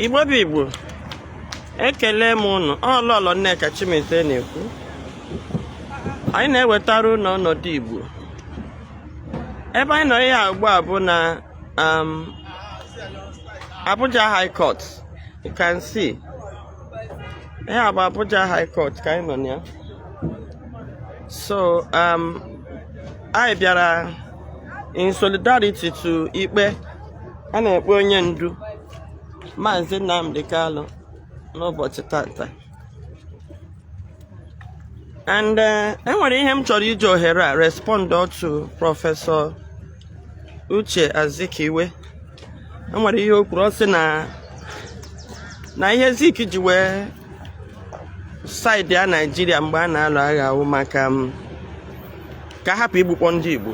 igbo bụ igbo ekelee m ụnụ ọ lọlọ nneka chimezie na-ekwu anyị na-ewetara ụlọ ọnọdụ igbo ebe anyị nọ ihe ugbu a bụ na um, abuja high court you can see ihe a bụ abuja high court ka anyị nọ na ya so um, anyị bịara in solidarity to ikpe a na-ekpe onye ndu Maazị Nnamdi Kanu n'ụbọchị tata and eh, enwere ihe m chọrọ iji ohere a respond to prọfesọ Uche Azikiwe enwere ihe o kwuru ọ sị na na ihe Zik ji wee saịdịa naijiria mgbe a na-alụ agha wụ maka um, ka a hapụ igbukpọ ndị igbo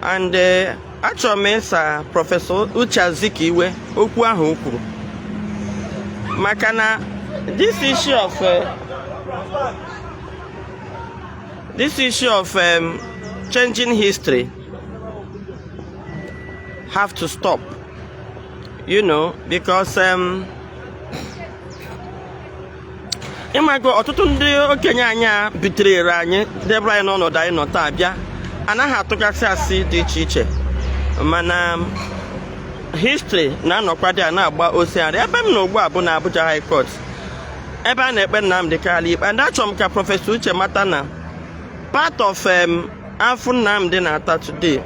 and eh, achọrọ m ịsa prọfesọ uche azikiwe okwu ahụ o kwuru maka na this issue of eh, this issue of um, changing history have to stop you know because um, ịmago ọtụtụ ndị okenye anyị a betrayịrị anyị debere anyị n'ọnọdụ anyị nọ taa bịa na-aga atụgasị asị dị iche iche mana history na-anọkwa there na-agba osearị ebe m nọ ugbu a bụ na Abuja High Court ebe a na-ekpe Nnamdi Kanu ikpe and achọrọ m ka prọfesọ Uche mata na part of um, afụfụ Nnamdi na-ata today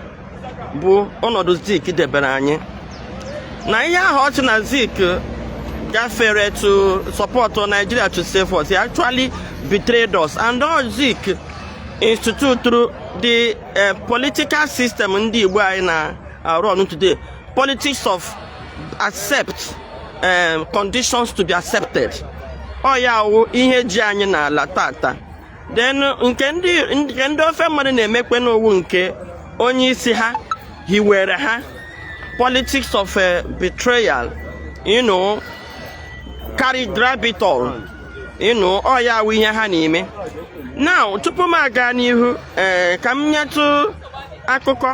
bụ ọnọdụ Zik debere anyị na ihe ahụ ọ sị na Zik gafere to support Nigeria to save us. He actually betrayed us. And ọ Zik instituturu the uh, political system ndị Igbo anyị na-arun today, politics of accept um, conditions to be accepted. Ọ ya wụ ihe ji anyị n'ala tata. then nke ndị nke ndị ofe mmadụ na-emekwenụ wụ nke onye isi ha hiwere ha politics of eh, betrayal you know carry grab it all you know ọ ya wụ ihe ha na-eme now tupu m agaa n'ihu ee eh, ka m nyetụ akụkọ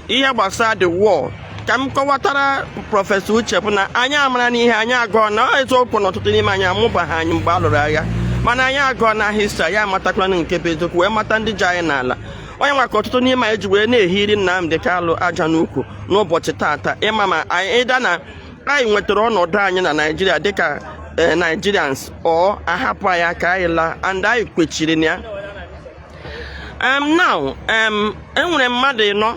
ihe gbasara the war ka m kọwatara prọfesọ uche bụ na anyị amarana ihe anyị agụọna ọ eziokwu na ọtụtụ n'ime anyị amụbaghị anyị mgbe a lụrụ agha mana anyị agụọna history anyị amatakwana nke bụ eziokwu wee mata ndị ji anyị n'ala ọ ya nwa ka ọtụtụ n'ime anyị ji wee na-ehiri Nnamdi Kanu aja n'ukwu n'ụbọchị taata ịma ma anyị either na anyị nwetara ọnọdụ anyị na Naịjirịa dịka eh, Nigerians or a hapụ anyị ka anyị laa and anyị kwechiri na ya um, now um, enwere mmadụ ịnọ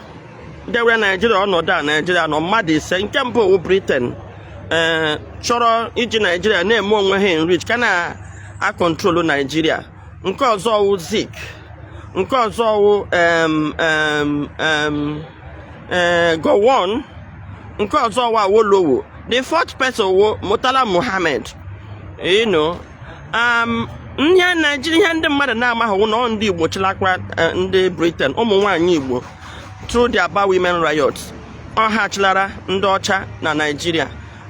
dewere naijiria ọnọdụ a naijiria nọ mmadụ ise nke mbụ wụ briten eh, chọrọ iji naijiria na-eme onwe ha enrich ka na-akọntrolu naijiria nke ọzọ wụ zik nke ọzọ wụ eh, gowon nke ọzọ wụ awolowo the fourth person wụ murtala muhammed you know um, ihe naijiria ihe ndị mmadụ na-amaghị na ọ ndị igbo chịlakwa eh, ndị briten ụmụ nwaanyị igbo through the Aba Women Riot ọ ha chịlara ndị ọcha na naijiria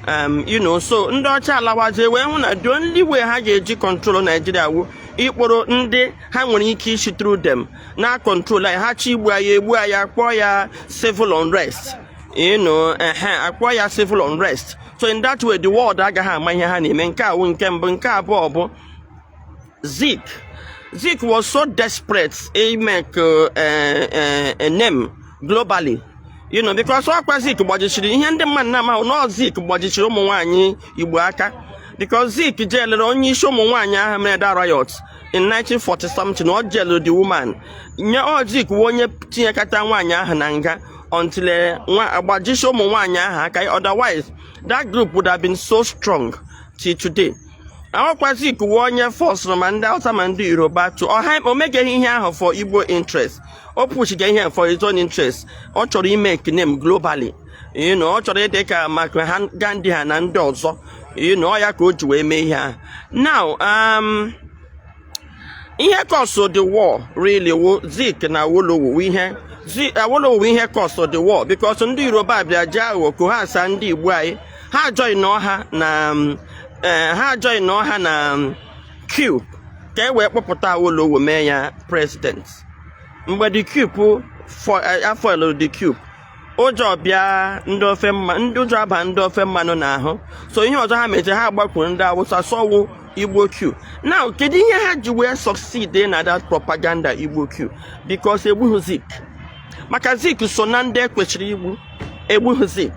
um, you know so ndị ọcha alawazie wee hụ na the only way ha ga-eji control naijiria wụ ịkpọrọ ndị ha nwere ike isi through them na-control anyị ha chọọ igbu anyị egbuo anyị kpọọ ya civil unrest you know akpọọ ya civil unrest so in that way the world agaghị ama ihe ha na-eme nke a wụ nke mbụ nke abụọ bụ Zik Zik was so desperate imake a eh, eh, eh, name globally you know because ọkwa Zik gbajichiri ihe ndị mmadụ na-amaghị na Zik gbajichiri ụmụ nwaanyị Igbo aka because Zik jailuru onye isi ụmụ nwaanyị ahụ mere that riot in 1940 something o jailuru the woman ọ Zik wụ onye tinyekata nwaanyị ahụ na nga until eh, agbajisi ụmụ nwaanyị ahụ aka otherwise that group would have been so strong till today ọ wụkwa Zik wụ onye forceụrụ ma ndị Hausa ma ndị Yoruba to o megeghị ihe ahụ for Igbo interest o pushiga ihe for his own interest ọ chọrọ imake name globally you know, ọ chọrọ ịdị ka maka ha Gandhi ha na ndị ọzọ you know, ọ ya ka o ji wee mee ihe ahụ now um, ihe causeụ the war really wụ Zik na Awolowo ihe Awolowo wụ ihe causeụ the war because ndị Yoruba bịa ji aghụghọ coerce ndị Igbo anyị ha ajoinụọ ha na um, eh, ha ajoinụọ ha na um, coup ka e wee kpọpụta Awolowo mee ya president mgbe the coup eh, a foilụ the coup ụjọ bịa ndị ofe mma ndị ụjọ aba ndị ofe mmanụ n'ahụ so ihe ọzọ ha meche ha agbakwuru ndị awụsa sị ọ wụ igbo coup now kedu ihe ha ji wee succeed na that propaganda igbo coup because egbughị zik maka zik so na ndị e kwesịrị igbu egbughị zik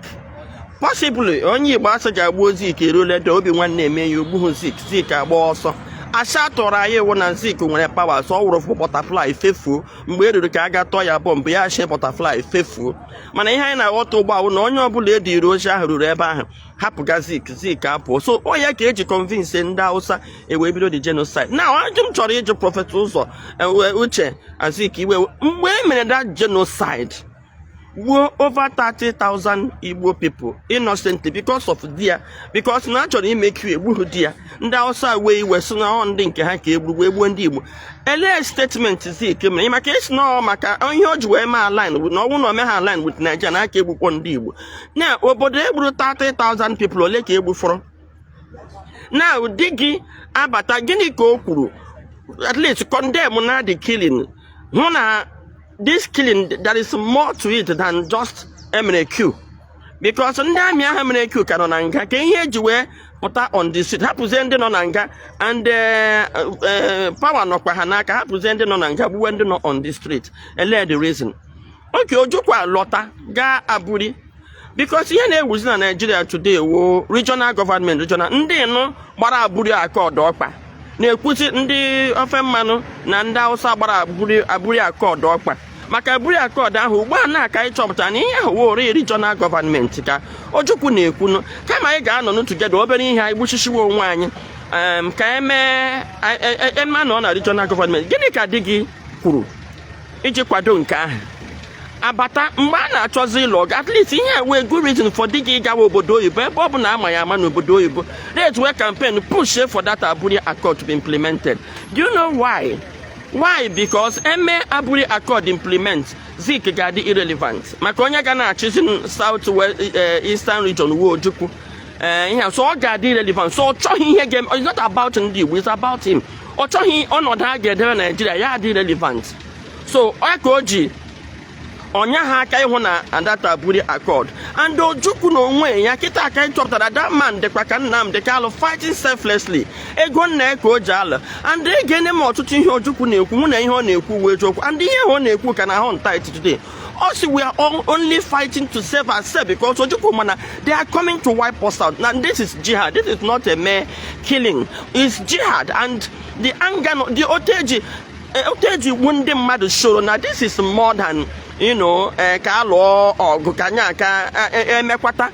possibly onye igbo a sị gaa gbuo zik erule dị obi nwanne eme ya o gbughị zik zik agba ọsọ asị a tụrụ anyị wụ na zik nwere power so ọ wụrụ fụ butterfly fefuo mgbe e ruru ka a ga-atụ ya bomb ya chee butterfly fefuo mana ihe anyị na-aghọta ugbu a wụ na onye ọbụla e diri ozi ahụ ruru ebe ahụ hapụga zik zik apụọ so ọ ya ka e ji convince ndị hausa e wee bido the genocide now ajụjụ m chọrọ ịjụ prophet ụzọ e, uche azikiwe mgbe e mere that genocide gbuo over 30,000 Igbo people innocently because of their because na achọrọ ime coup egbughị di ya ndị Hausa wee iwe sị na ọ ndị nke ha ka egburu egbuo ndị Igbo elee statement Zik mere maka ị sị na maka ihe o ji wee mee align na ọ wụ na o meha align with Nigeria na a ka-egbukwu ndị Igbo na obodo egburu 30,000 people ole ka egbufọrọ now di gị abata gịnị ka o kwuru at least condemn na the killing hụ na this killing there is more to it than just a mere coup because ndị army ahụ mere coup ka nọ na nga kee ihe eji wee pụta on the street hapụzie ndị nọ na nga and eh, eh, power nọkwa ha n'aka hapụzie ndị nọ na nga gbuwe ndị nọ on the street ele the reason oge ojukwu lọta gaa aburi because ihe na-ewuzi na nigeria today wụ regional government regional ndị nụ gbara aburi accord ọkpa na-ekwuzi ndị ofe mmanụ na ndị hausa gbara aburi aburi accord ọkpa maka aburi accord ahụ ugbu a na ka anyị chọpụtara na ihe ahụ wụrụ regional government ka ojukwu na-ekwunu kama anyị ga-anọ together obere ihe anyị gbuchisiwe onwe anyị em, ka emee anyị- e- e- eme anọ na regional government gịnị ka di gị kwuru iji kwado nke ahụ abata mgbe a na-achọzi ịlụ ọgụ at least ihe wụ good reason for di gị ịgawa obodo oyibo ebe ọ bụ na ama ya ama n'obodo oyibo let's wee campaign push for that Aburi Accord to be implemented do you know why why because eme Aburi Accord implement Zik ga-adị irrelevant maka onye ga na-achịzi South eh, Eastern region wụ Ojukwu ee eh, ihe so ọ ga-adị irelevant so ọ chọghị ihe ga-eme it's not about ndị Igbo it's about him ọ chọghị ọnọdụ a ga-edebe Nigeria ya adị irrelevant so ọ ka o ji o nyeha aka ịhụ na that aburi accord and ojukwu na onwe ya kịta ka anyị chọpụtara that man dịkwa ka Nnamdi Kanu fighting selflessly ego nna ya ka o ji alụ and egeene m ọtụtụ ihe ojukwu na-ekwu m hụ na ihe ọ na-ekwu wụ eziokwu and ihe ọ na-ekwu ka na-ahaunt anyị today ọ sị we are all only fighting to save ourselves because ojukwu ma na they are coming to wipe us out na this is jihad this is not a mere killing it's jihad and the anger no- the otu e ji eh, otu e ji gbuo ndị mmadụ showrọ na this is more than you know eh, ka a lụọ ọgụ ka anya ka eh, eh, emekwata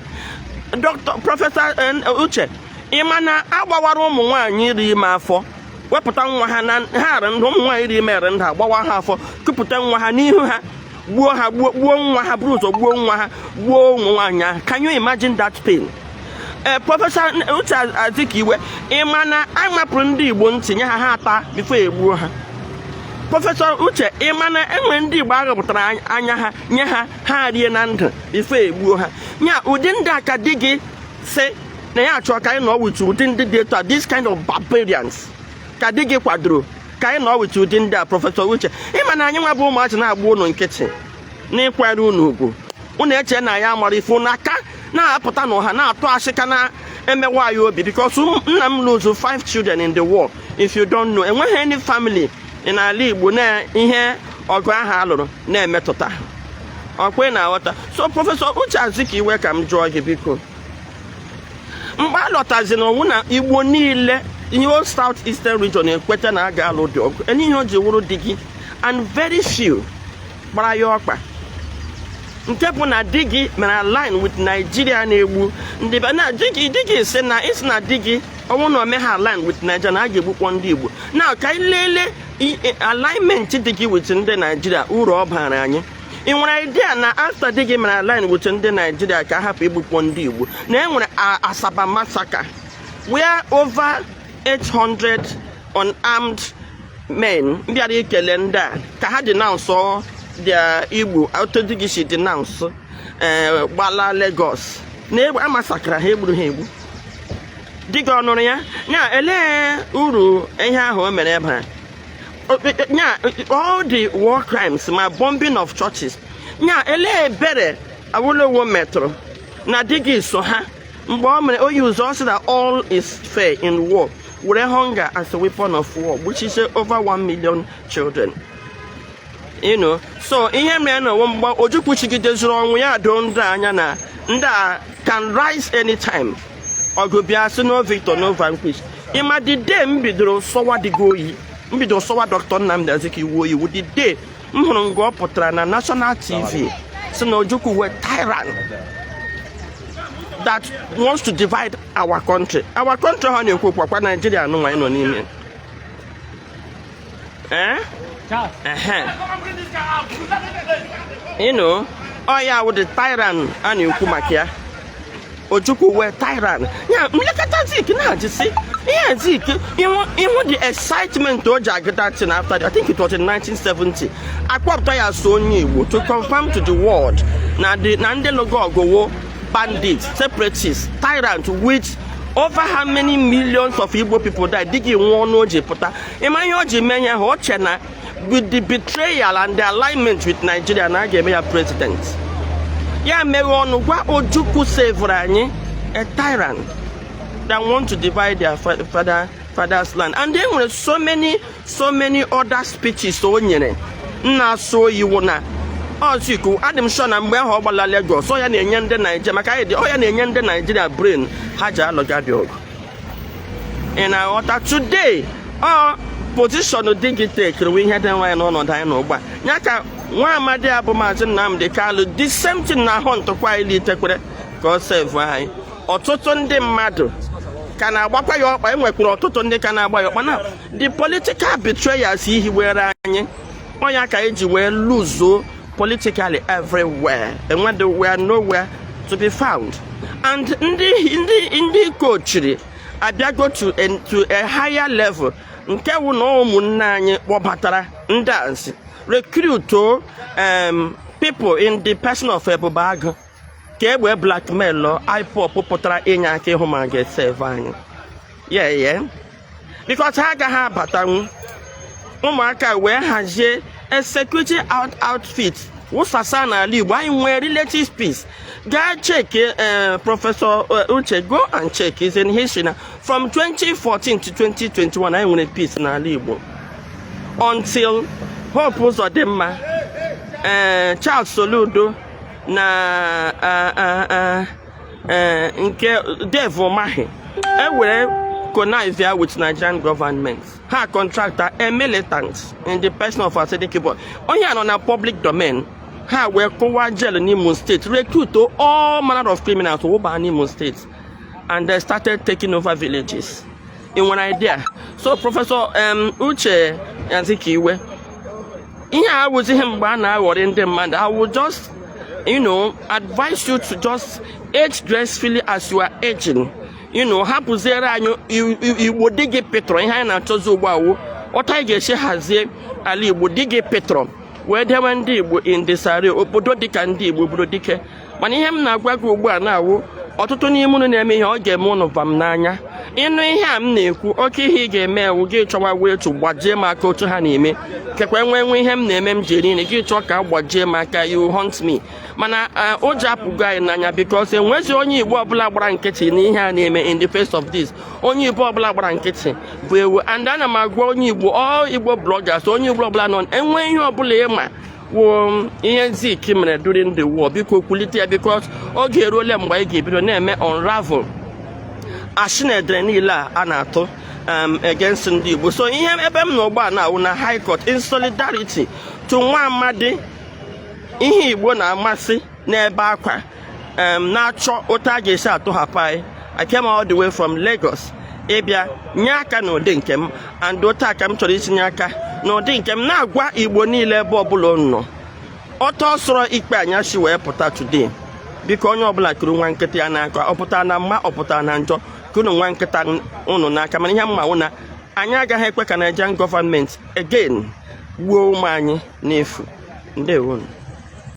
dr professor eh, uche ị ma na agbawara ụmụ nwaanyị rị ime afọ wepụta nwa ha na ha arị ndụ ụmụ nwaanyị dị ime arị ndụ agbawa ha afọ kupụta nwa ha n'ihu ha gbuo ha gbuo gbuo nwa ha buru ụzọ gbuo nwa ha gbuo ụmụ nwaanyị ahụ can you imagine that pain ee eh, professor uche azikiwe ị ma na a mapụrụ ndị igbo ntị nye ha ha ata before egbuo ha professor uche ị ma na enwere ndị igbo aghọpụtara anya ha nye ha ha rie na ndụ before egbuo ha nya ụdị ndị a ka di gị sị na ya achọ ka anyị nọ with ụdị ndị dị etu a this kind of barbarians ka di gị kwadoro ka anyị nọ with ụdị ndị a prọfesọ uche ị ma na anyị nwa bụ ụmụazị na-agba ụnụ nkịtị na-akwanyere ụnụ ugwu ụnụ eche na anyị amarọ ife ụnụ aka na-apụta n'ọha na-atụ asị ka na-emewa anyị obi because nna m lose five children in the war if you don't know enweghị any family n'ala Igbo na ihe ọgụ ahụ a lụrụ na-emetụta ọkwa ị na-aghọta so prọfesọ uche azikiwe ka m jụọ gị biko mgbe a lọtazi na ọ wụ na igbo niile the whole south eastern region ekweta na a ga-alụ dị ọgụ elee ihe o ji wụrụ di gị and very few gbara ya ọkpa nke bụ na di gị mere align with Nigeria na-egbu ndị be anyị di gị sị na ị sị na di gị ọ wụ na o meha align with Nigeria na a ga-egbukpọ ndị Igbo na ka anyị lelee alignment di gị with ndị Nigeria uru ọ bara anyị ị nwere idea na after di gị mere align with ndị Nigeria ka a hapụ igbukpọ ndị igbo na e nwere Asaba massacre where over 800 unarmed men bịara ikele ndị a ka ha denounce their igbo otu di gị si denounce eh, gbala Lagos na a massacre ha e gburu ha egbu di gị ọ nụrụ ya nya elee uru ihe ahụ o mere bara nya all the war crimes ma bombing of churches nya elee ebere awolowo metụrụ na di gị so ha mgbe o mere o use ọ sị that all is fair in war were hunger as a weapon of war gbuchisie over 1 million children you know so ihe mere na mgbe ojukwu chigidezuru onwe ya doo ndị a anya na ndị a can rise anytime ọgụ bie a sị no victor no vanquish ị ma the day m bidoro sọwa di gị oyi m bidoro sọwa Doctor Nnamdi Azikiwe oyi wụ the day m hụrụ nga ọ pụtara na national tv sị na Ojukwu wụ a tyrant that wants to divide our country our country ha na-ekwu wụkwa Nigeria a nụnwa anyị nọ n'ime eh? you know ọ ya wụ the tyrant a na-ekwu maka ya Ojukwu wụ a tyrant ya nlekọta Zik na-ajisi ihe Zik ị hụ the excitement o ji agụ that thing after I think it was in 1970 a kpọpụta ya as onye Igbo to confirm to the world na ndị lụgo ọgụ wụ bandits separatists tyrant which over how many millions of Igbo people died di gị nwa ọnụ o ji pụta ị ma ihe o ji mee ya ha o che na with the betrayal and the alignment with Nigeria na a ga-eme ya president ya meghee ọnụ gwa Ojukwu sevụrụ anyị a tyrant that want to divide their father father's land and e nwere so many so many other speeches o nyere na-asọ oyi wụ na Azikiwe adị m sure na mgbe ahụ ọ gbala Lagos ọ ya na-enye ndị Naijiria maka anyị dị ọ ya na-enye ndị Naijiria brain ha ji alụga dị ọgụ ị na-aghọta today ọ position di gị tekiri wụ ihe dewere anyị n'ọnọdụ anyị nọ ugbu a ya ka nwa amadi a bụ maazị Nnamdi Kalu the same thing na-ahụntụkwa anyị litekwere ka ọ sevu anyị ọtụtụ ndị mmadụ ka na-agbakwa ya ọkpa e nwekwuru ọtụtụ ndị ka na-agba ya ọkpa na the political betrayals ihe were anyị ọ nya ka anyị ji wee luzuo politically everywhere enwedị we are nowhere to be found and ndị ndị ndị treachery abịago to a, to a higher level nke wụ na ụmụnne anyị kpọbatara ndị ansi recruit um, people in the person of Ebube Agụ ka egbe blackmailụọ IPOB pụtara inye aka ịhụ ma a ga-eseve anyị yeah because ha agaghị abatanwu ụmụaka wee hazie a security out outfit wụsasa n'ala Igbo anyị nwee relative peace gaa cheki eh, Professor eh, Uche go and check it's in history na from 2014 to 2021 anyị nwere peace n'ala Igbo until Hope Uzodimma eh, Charles Soludo na eh, nke Dave Umahi ewere connive with Nigerian government ha contractụọ a militant in the person of Asari Dokubo onye a nọ na public domain ha wee kụwaa jail n'Imo State recruit all manner of criminals wụba n'Imo State and they started taking over villages in one idea so Professor um, Uche Azikiwe ihe a awụzighị mgbe a na-aghọrị ndị mmadụ I will just you know advise you to just age gracefully as you are aging you know hapụziere anyị Igbo di gị pịtọrọ ihe anyị na-achọzi ugbu a wụ otu anyị ga-esi hazie ala Igbo di gị pịtọrọ wee dewe ndị Igbo in the sare obodo dịka ndị Igbo bụrụ dike mana ihe m na-agwa gị ugbu a na-awụ ọtụtụ n'ime unu na-eme ihe ọ ga-eme unu vam n'anya ị nụ ihe a m na-ekwu okay ihe ị ga-eme wụ gị chọwa way to gbajie m aka otu ha na-eme kekwa nwee nwe ihe m na-eme m ji eri nri gị chọọ ka ị gbajie m aka you hunt me mana eh, ụjọ apụgo anyị n'anya because e nwezi onye Igbo ọbụla gbara nkịtị n'ihe a na-eme in the face of this onye Igbo ọbụla gbara nkịtị bụ ewu and ana m agwa onye Igbo all Igbo bloggers onye Igbo ọbụla nọ e nwe ihe ọbụla ị ma kwuo ihe Zik mere during the war biko kwulite ya because oge eruole mgbe anyị ga-ebido na-eme unravel ashị na edere niile a a na-atụ um, against ndị Igbo so ihe ebe m nọ ugbua na awụ na High Court in solidarity to nwa amadi ihe Igbo na-amasị na-ebe akwa na-achọ otu a ga-esi atọhapụ anyị I came all the way from Lagos ịbịa nye aka n'ụdị nke m and otu a ka m chọrọ isi nye aka n'ụdị nke m na-agwa Igbo niile ebe ọbụla nọ otu ọ sọrọ ikpe anyị si wee pụta today biko onye ọbụla kuru nwa nkịta ya n'aka ọ pụta na mma ọ pụta na njọ kunu nwa nkịta ụnụ n'aka mana ihe m ma wụ na anyị agaghị ekwe ka Nigerian government again gbuo ụmụ anyị n'efu ndewonu